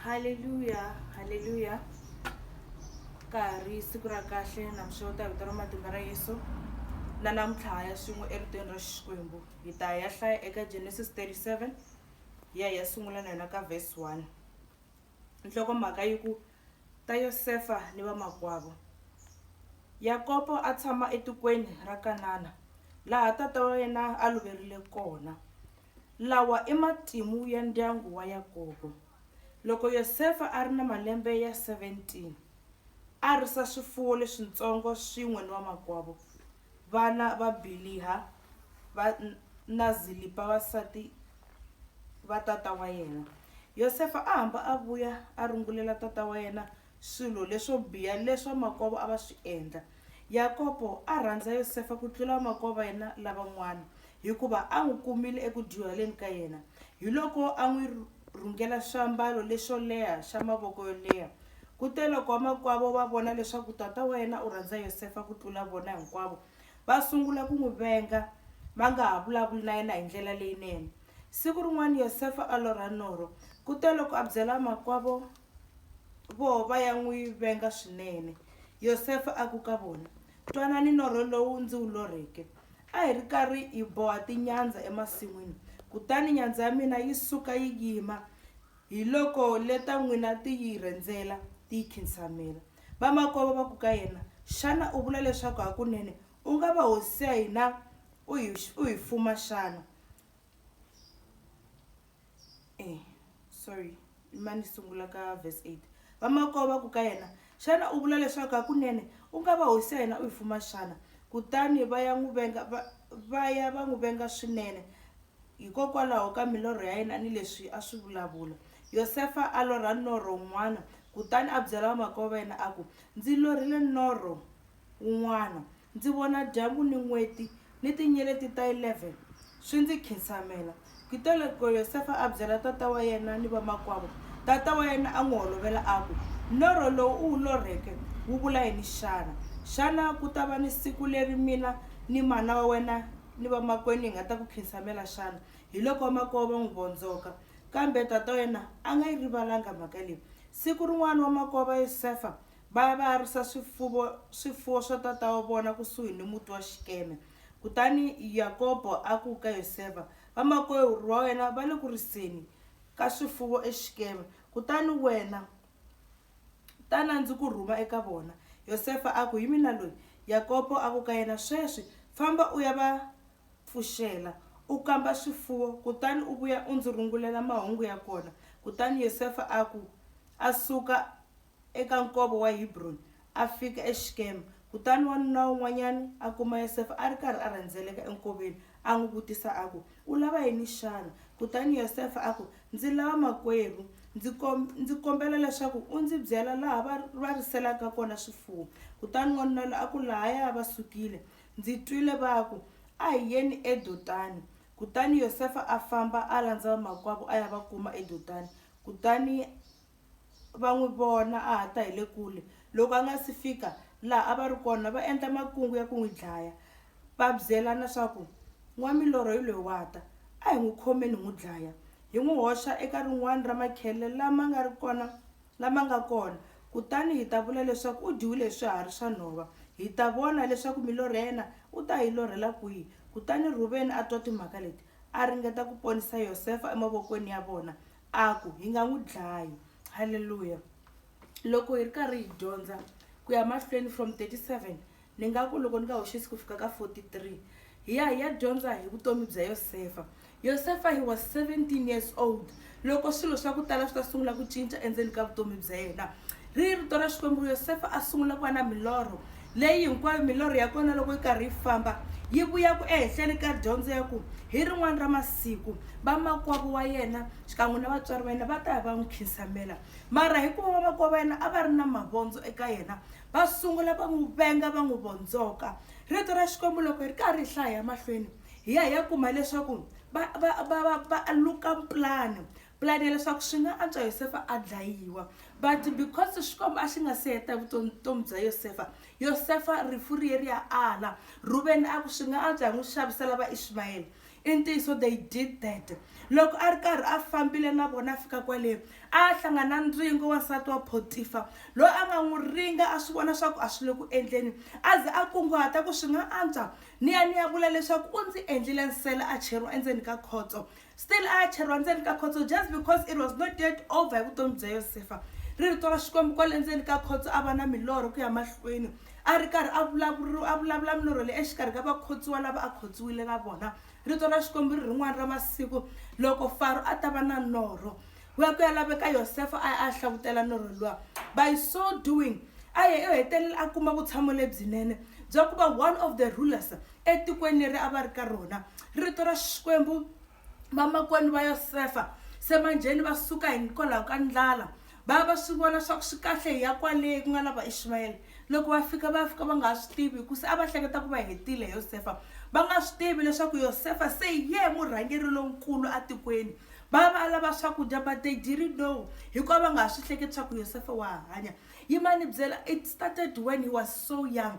haleluya haleluya ka ha ri siku ra kahle namixo ta vito ra matimba ra yesu na namuntlha ya swin'we eritweni ra xikwembu hi ta ya hlaya eka genesis 37 ya ya sungula na yona ka vhesi 1 nhlokomhaka yi ku ta yosefa ni vamakwavo yakobo a tshama etikweni ra kanana laha tata wa yena a loverile kona Lawa i matimu ya ndyangu wa Yakobo. Loko Yosefa a ri na malembe ya 17, a risa swifuwo leswintsongo swin'we ni vamakwavo. Vana va Biliha va na Zilipa vasati va tata wa yena. Yosefa a hamba a vuya a rungulela tata wa yena swilo leswo biha leswi vamakwavo a va swi endla. Yakobo a rhandza Yosefa ku tlula vamakwavo va yena lavan'wana hikuva a n'wi kumile eku dyuhaleni ka yena hiloko a n'wi rhungela swiambalo leswo leha swa mavoko yo leha. Kuteloko vamakwavo va vona leswaku tata wa yena u rhandza Yosefa ku tlula vona hinkwavo, va sungula ku n'wi venga va nga ha vulavuli na yena hi ndlela leyinene. Siku rin'wana Yosefa a lorha norho, kuteloko a byela vamakwavo voho va ya n'wi venga swinene. Yosefa a ku ka vona, Twanani norho lowu ndzi wu lorheke. A hi ri karhi hi boha tinyandza emasin'wini, kutani nyandza ya mina yi suka yi yima, hiloko le ta n'wina ti yi rhendzela, ti yi khinsamela. Vamakwavo va ku ka yena, Xana u vula leswaku hakunene u nga va hosi ya hina u hi u hi fuma xana? Eh, sorry ma ni sungula ka verse 8 vamakwavo va ku ka yena xana u vula leswaku hakunene u nga va hosi ya hina u yi fuma xana kutani va ya n'wi venga va- va ya va n'wi venga swinene hikokwalaho ka milorho ya yena ni leswi a swi vulavula yosefa a lorha norho wun'wana kutani a byela vamakwavo va yena a ku ndzi lorhile norho wun'wana Ndzi vona dyambu ni n'weti ni tinyeleti ta 11 swi ndzi khinsamela. Kutoloko Yosefa a byela tata wa yena ni vamakwavo. Tata wa yena a n'wi holovela a ku, Norho lowu u wu lorheke wu vula yini xana? Xana ku ta va ni siku leri mina ni mana wa wena ni vamakwenu hi nga ta ku khinsamela xana? Hiloko vamakwavo va n'wi vondzoka. Kambe tata wa yena a nga yi rivalanga mhaka leyi. Siku rin'wana vamakwavo va Yosefa Va ya va ya risa swifuvo, swifuwo swa tata wa vona kusuhi ni muti wa Xikeme. Kutani Yakobo a ku ka Yosefa, Vamakwerhu va wena va le ku riseni ka swifuvo eXikeme, kutani wena ta na ndzi ku rhuma eka vona. Yosefa a ku, Hi mina loyi. Yakobo a ku ka yena, Sweswi famba u ya va pfuxela, u kamba swifuwo, kutani u vuya u ndzi rungulela mahungu ya kona. Kutani Yosefa a ku, A suka eka Nkova wa Hebroni, a fika eShikema. Kutani wanuna wun'wanyana a kuma Yosefa a ri karhi a rhendzeleka enkoveni, a n'wi vutisa a ku, U lava yini xana? Kutani Yosefa a ku, Ndzi lava makwerhu. Ndzi ndzi kombela leswaku u ndzi byela laha va va riselaka kona swifuwo. Kutani wanuna loyi a ku, Lahaya va sukile, ndzi twile va ku, A hi yeni eDotani. Kutani Yosefa a famba a landza vamakwavo a ya va kuma eDotani, kutani va n'wi vona a ha ta hi le kule. Loko a nga si fika laha a va ri kona, va endla makungu ya ku n'wi dlaya, va byelana swa ku, N'wamilorho hi loyi wa ta. A hi n'wi khomeni hi n'wi dlaya, hi n'wi hoxa eka rin'wana ra makhele lama nga ri kona lama nga kona, kutani hi ta vula leswaku u dyiwile hi swiharhi swa nhova. Hi ta vona leswaku milorho ya yena u ta yi lorhela kwihi. Kutani Rhuveni a twa timhaka leti, a ringeta ku ponisa Yosefa emavokweni ya vona. A ku, Hi nga n'wi dlayi. Haleluya! Loko hi ri karhi hi dyondza ku ya mahlweni from 37, ni nga ku loko ni nga hoxisi ku fika ka 43, hi ya hi ya dyondza hi vutomi bya Yosefa. Yosefa he was 17 years old loko swilo swa ku tala swi ta sungula ku cinca endzeni ka vutomi bya yena. Ri rito ra Xikwembu, Yosefa a sungula ku va na milorho leyi hinkwayo milorho ya kona loko yi karhi yi famba yi vuyaku ehenhleni ka dyondzo ya ku hi rin'wana ra masiku vamakwavo wa yena xikan'we na vatswari va yena va ta ya va n'wi khinsamela mara hikuva vamakwavo va yena a va ri na mavondzo eka yena va sungula va n'wi venga va n'wi vondzoka rito ra xikwembu loko hi ri karhi hi hlaya emahlweni hi ya hi ya kuma leswaku va va va va va luka plan plan ya leswaku swi nga antswa yosefa a dlayiwa but because xikwembu a xi nga se heta vutomi bya yosefa yosefa rifu riye ri ya ala ruveni a ku swi nga antswa hi n'wi xavisela vaishimayele i ntiyiso they did that loko a ri karhi a fambile na vona a fika kwale a hlangana ndzingo wansati wa potifa loyi a nga n'wi ringa a swi vona swaku a swi le ku endleni a ze a kunguhata ku swi nga antswa ni ya ni ya vula leswaku u ndzi endlile nsele a cheriwa endzeni ka khotso Still a ya cheriwa ndzeni ka khotso just because it was not yet over hi vutomi bya Yosefa. Ri rito ra Xikwembu kwale ndzeni ka khotso a va na milorho ku ya mahlweni. A ri karhi a vulavuriwa a vulavula milorho leyi exikarhi ka vakhotsiwa lava a khotsiwile na vona. Rito ra Xikwembu ri rin'wana ra masiku loko Faro a ta va na norho wa ku ya laveka Yosefa a ya a ya hlavutela norho luwa. By so doing a ye u hetelele a kuma vutshamo lebyinene bya ku va one of the rulers etikweni leri a va ri ka rona rito ra xikwembu vamakwenu va yosefa semanjheni va suka hikwalaho ka ndlala va va swi vona swa ku swi kahle hi ya kwale ku nga na vaishimayele loko va fika va fika va nga ha swi tivi hikusa a va hleketa ku va hetile yosefa va nga swi tivi leswaku yosefa se ye murhangeri lonkulu atikweni va va lava swakudya but they didn't know hikuva va nga ha swi hleketi swa ku yosefa wa hanya yimani byela it started when he was so young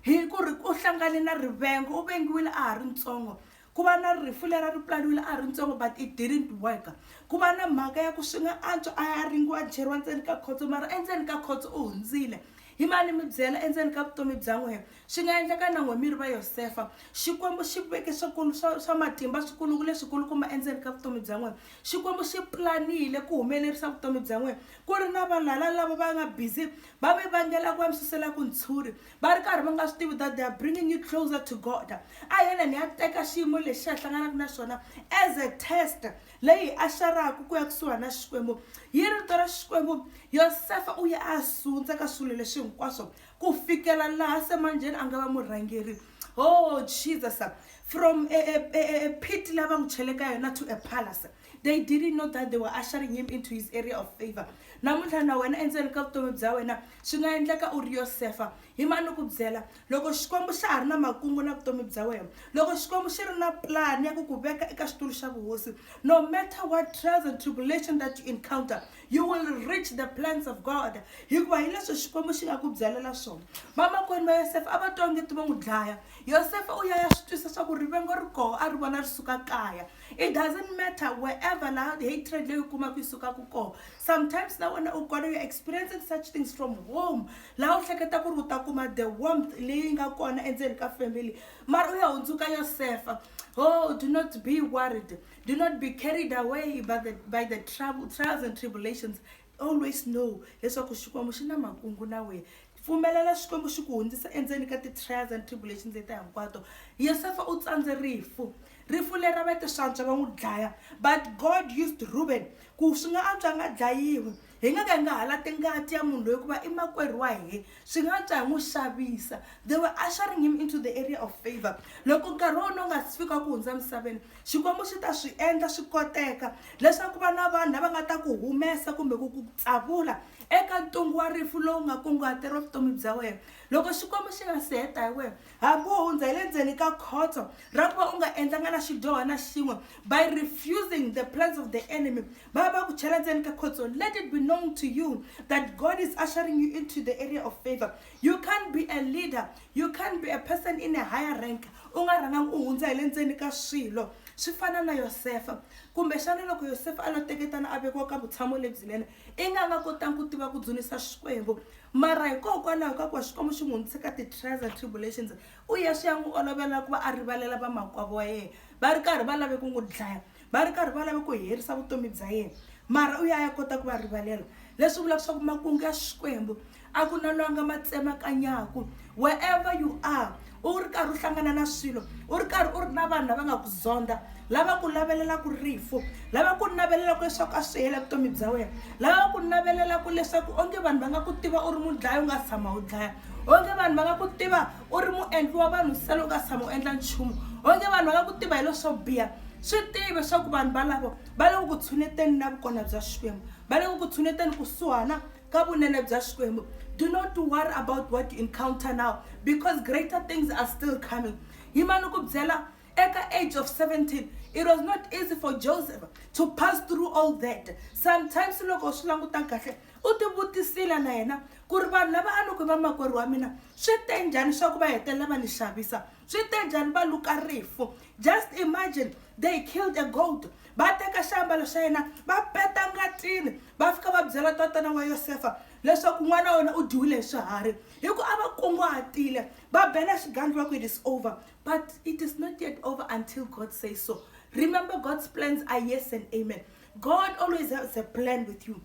hi ku ri u hlangane na rivengo u vengiwile a ha ri ntsongo ku va na rifu leri a ri pulaniwile a ha ri ntsongo but it didn't work ku va na mhaka ya ku swi nga antswa a ya ringiwa cheriwa ndzeni ka khotso mara endzeni ka khotso u hundzile hi mani mi byela endzeni ka vutomi bya n'wehe swi nga endleka na n'we mi ri va yosefa xikwembu xi veke swikulu swa swa matimba swikuluku leswikulukuma endzeni ka vutomi bya n'wehe xikwembu xi pulanile ku humelerisa vutomi bya n'wehe ku ri na valala lava va nga busy va mi vangela ku va mi suselaku ntshuri va ri karhi va nga swi tivi that they are bringing you closer to god a hi yena ni ya teka xiyimo lexi a hlanganaka na xona as a test leyi a xaraku ku ya kusuhana na xikwembu yi rito ra xikwembu yosefa u ya a sundza ka swilo leswi hinkwaswo ku fikela laha semanjeni a nga va murhangeri oh jesus from a, a, a, a pit lava n'wi cheleka yona to a palace They didn't know that they were ushering him into his area of favor. Namuntlha na wena endzeni ka vutomi bya wena swi nga endleka u ri Yosefa. Hi mani ni ku byela loko Xikwembu xa ha ri na makungu na vutomi bya wena, loko Xikwembu xi ri na plan ya ku ku veka eka xitulu xa vuhosi, no matter what trials and tribulation that you encounter, you will reach the plans of God. Hikuva hi leswi Xikwembu xi nga ku byalela swona. Vamakwenu va Yosefa a va twa ongeti vo n'wi dlaya. Yosefa u ya ya swi twisa swa ku rivengo ri koho a ri vona ri suka kaya. It doesn't matter wherever la hatred leyi u kumaka yi sukaka kona sometimes na wena u kona you're experiencing such things from home laha u hleketa ku ri u ta kuma the warmth leyi nga kona endzeni ka family mara u ya hundzuka yosefa oh do not be worried do not be carried away by the, by the trouble, trials and tribulations always know leswaku xikwembu xi na makungu na wena pfumelela xikwembu xi ku hundzisa endzeni ka ti-trials and tribulations leti hinkwato yosefa u tsandze rifu rifu leri ra vatiswantswa va n'wi dlaya but god used ruben ku swi nga antswa nga dlayiwi hi nga ka hi nga halati ngati ya munhu loyi ku va i makwerhu wa hina swi nga ta n'wi xavisa they were ushering him into the area of favor loko nkarhi wa wona u nga si fika ku hundza misaveni xikwembu xi ta swi endla swi koteka leswaku va na vanhu lava nga ta ku humesa kumbe ku ku tsavula eka ntungu wa rifu lowu nga kunguhateriwa vutomi bya wena loko xikwembu xi nga si heta hi wena hambi wo hundza hi le ndzeni ka khotso ra ku va u nga endlanga na xidyoho na xin'we by refusing the plans of the enemy ba ba ku chela ndzeni ka khotso let it be known to you that god is ushering you into the area of favor you can't be a leader you can't be a person in a higher rank u nga rhangangi u hundza hi le ndzeni ka swilo swi fana na yosefa kumbexana loko yosefa a lo teketana a vekiwa ka vutshamo lebyinene i nga nga kotangi ku tiva ku dzunisa xikwembu mara hikokwalaho ka ku wa xikwembu xi n'wi hundzise ka ti-trials and tribulations u ya swi ya n'wi olovela ku va a rivalela vamakwavo wa yena va ri karhi va lave ku n'wi dlaya Va ri karhi va lava ku herisa vutomi bya yena, mara u ya ya kota ku va rivalela. Leswi vulaka leswaku makungu ya Xikwembu a ku na lwanga ma tsemakanyaku. Wherever you are, u ri karhi u hlangana na swilo, u ri karhi u ri na vanhu lava nga ku zondha, lava ku lavelelaku rifu, lava ku navelelaku leswaku a swi hela vutomi bya wena, lava ku navelelaku leswaku onge vanhu va nga ku tiva u ri mudlayi u nga si tshama u dlaya, onge vanhu va nga ku tiva u ri muendli wa vanhu se loko a tshama u endla nchumu onge vanhu va nga ku tiva hi leswo biha swi tive leswaku vanhu valavo va le ku ku tshuneteni na vukona bya xikwembu va le ku ku tshuneteni kusuhana ka vunene bya xikwembu do not worry about what you encounter now because greater things are still coming hi mani ku byela at the age of 17 it was not easy for joseph to pass through all that sometimes loko swi languta kahle u tivutisile na yena ku ri vanhu lava a ni ku vamakwerhu wa mina swi te njhani swa ku va hetelela va ni xavisa swi te njhani va luka rifu just imagine they killed a gold va teka xiambalo xa yena va peta ngatini va fika va byela tatana wa yosefa leswaku n'wana wa wena u dyiwile hi swiharhi hi ku a va kunguhatile va bela xigangi va ku it is over but it is not yet over until god say so remember god's plans are yes and amen god always has a plan with you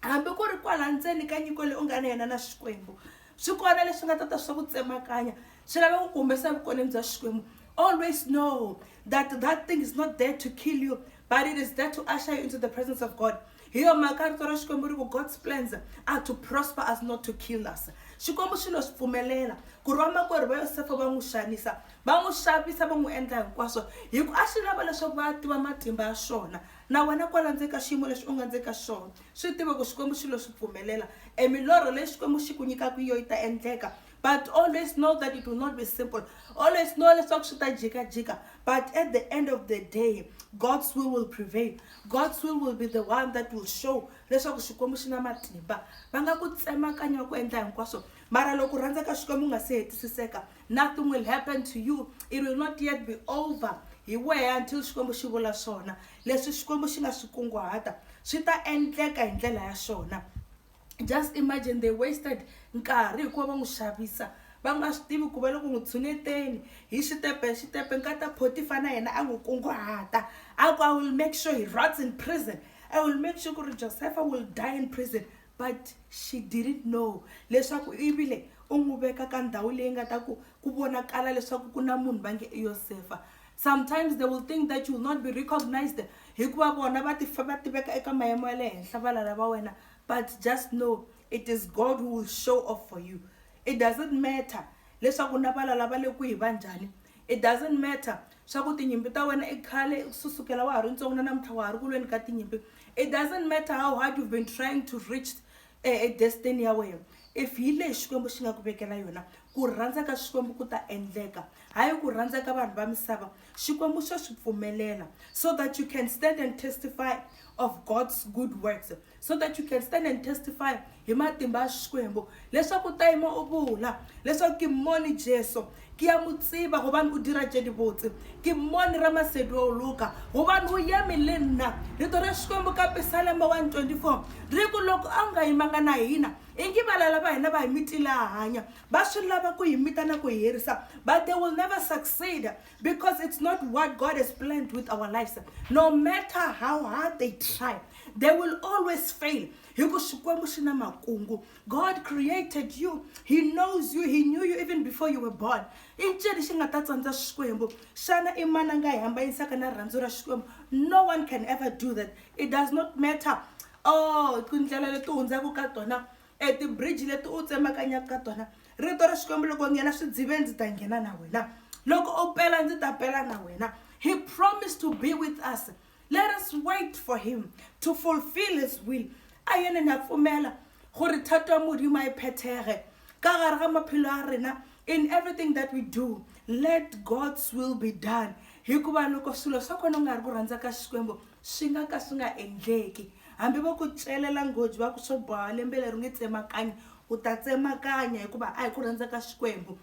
hambi ku ri kwala ndzeni ka nyiko leyi u nga na yena na xikwembu swi kona leswi nga ta ta swa ku tsemakanya swi lava ku ku humesa evukoneni bya xikwembu always know that that thing is not there to kill you but it is there to usher you into the presence of god hi yo mhaka rito ra xikwembu ri ku god's plans are to prosper us not to kill us xikwembu xi lo swi pfumelela ku ri vamakwerhu va yosefa va n'wi xanisa va n'wi xavisa va n'wi endla hinkwaswo hi ku a xi lava leswaku va tiva matimba ya xona Na wena kwala ndzeni ka xiyimo lexi u nga ndzeni ka xona, swi tiva ku Xikwembu xi lo swi pfumelela. E milorho leyi Xikwembu xi ku nyikaka yona yi ta endleka. But always know that it will not be simple. Always know leswaku swi ta jikajika. But at the end of the day, God's will will prevail. God's will will be the one that will show leswaku Xikwembu xi na matimba. Va nga ku tsemakanya ku endla hinkwaswo, mara loko rhandza ka Xikwembu u nga se hetisiseka, Nothing will happen to you. It will not yet be over. Hi wehe until Xikwembu xi vula swona. Leswi Xikwembu xi nga swi kunguhata swi ta endleka hi ndlela ya swona. Just imagine they wasted nkarhi hikuva va n'wi xavisa va nga swi tivi ku va loko n'wi tshuneteni hi xitepe hi xitepe nkata photifa na yena a n'wi kunguhata a ku i will make sure he rots in prison i will make sure ku ri josepha will die in prison But she didn't know leswaku i vile u n'wi veka ka ndhawu leyi nga ta ku ku vonakala leswaku ku na munhu va nge i yosefa sometimes they will think that you will not be recognized hikuva vona va tifa va tiveka eka mayimo ya le henhla valala va wena but just know it is god who will show off for you it doesn't matter leswaku na valala va le kwihi va njhani It doesn't matter swa ku tinyimpi ta wena i khale susukela wa ha ri ntsongo na namuntlha wa ha ri ku lweni ka tinyimpi it doesn't matter how hard you've been trying to reach a, a destiny ya wena if hi leyi xikwembu xi nga ku vekela yona ku rhandza ka xikwembu ku ta endleka hayi ku rhandza ka vanhu va misava xikwembu xo swi pfumelela so that you can stand and testify of god's good works so that you can stand and testify hi matimba ya xikwembu leswaku ta yima u vula leswaku kimoni jesu ki ya mu tsiva gobane o dira tše dibotse kimoni ra masedi wa o luka gobane o yeme le nna leto ra xikwembu ka pisalema 124 ri ku loko a wu nga yimanga na hina ingi valala va hina va hi mitila hanya va swi lava ku hi mita na ku hi herisa but they will never succeed because it's not what god has planned with our lives no matter how hard they try they will always fail hi ku xikwembu xi na makungu god created you he knows you he knew you even before you were born i ncini xi nga ta tsandza xikwembu xana i mani a nga hi hambanisaka na rirhandzu ra xikwembu no one can ever do that it does not matter oh tindlela leti hundzaka ka tona e tibridge leti u tsemakanyaka ka tona rito ra xikwembu loko nghena swi dzive ndzi ta nghena na wena loko u pela ndzi ta pela na wena he promised to be with us Let us wait for him to fulfill his will. A yene na pfumela gore thato ya Modimo a e phethege ka gare ga maphelo a rena in everything that we do. Let God's will be done. Hikuva loko swilo swa kona u nga ri ku rhandza ka Xikwembu swi nga ka swi nga endleki. Hambi va ku celela nghozi va ku swo boha lembe leri nge tsemakanya u ta tsemakanya hikuva a hi ku rhandza ka Xikwembu.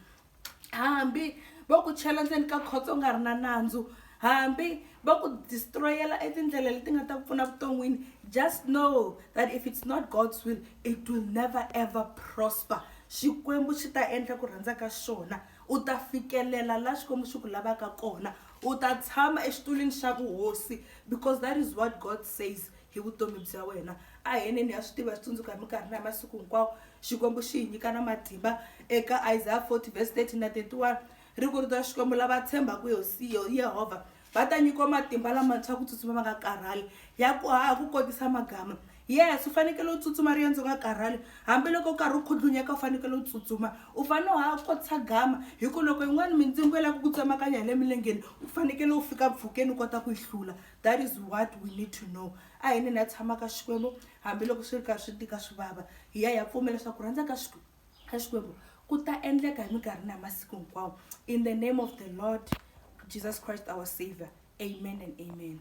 hambi va ku chela ndzeni ka khotso nga ri na nandzu hambi va ku destroyela etindlela leti nga ta ku pfuna vuton'wini just know that if it's not god's will it will never ever prosper xikwembu xi ta endla ku rhandza ka xona u ta fikelela la xikwembu xi ku lavaka kona u ta tshama exitulwini xa vuhosi because that is what god says hi vutomi bya wena a hi yeneni ha swi tiva hi swi tsundzuka hi minkarhi na hi masiku hinkwawo xikwembu xi hi nyika na matimba eka isaya 40 vhesi 30 na 31 ri ku rito ra xikwembu lava tshembaka yehovha va ta nyikiwa matimba lamantshwa ku tsutsuma va nga karhali ya ku haha ku kotisa magama yes u fanekele u tsutsuma riendzo nga karhali hambiloko u karhi u khudlunyeka u fanekele u tsutsuma u fanele u haha kotisa gama hi ku loko yin'wana mindzingo yi lava ku ku tsemakanya hi le milengeni u fanekele u fika mpfhukeni u kota ku yi hlula That is what we need to know. A hi nini a tshama ka Xikwembu hambiloko swi ri karhi swi tika swi vava. Hi ya hi ya pfumela leswaku ku rhandza ka Xikwembu ka Xikwembu ku ta endleka hi minkarhi na hi masiku hinkwawo in the name of the Lord Jesus Christ our Savior. Amen and amen.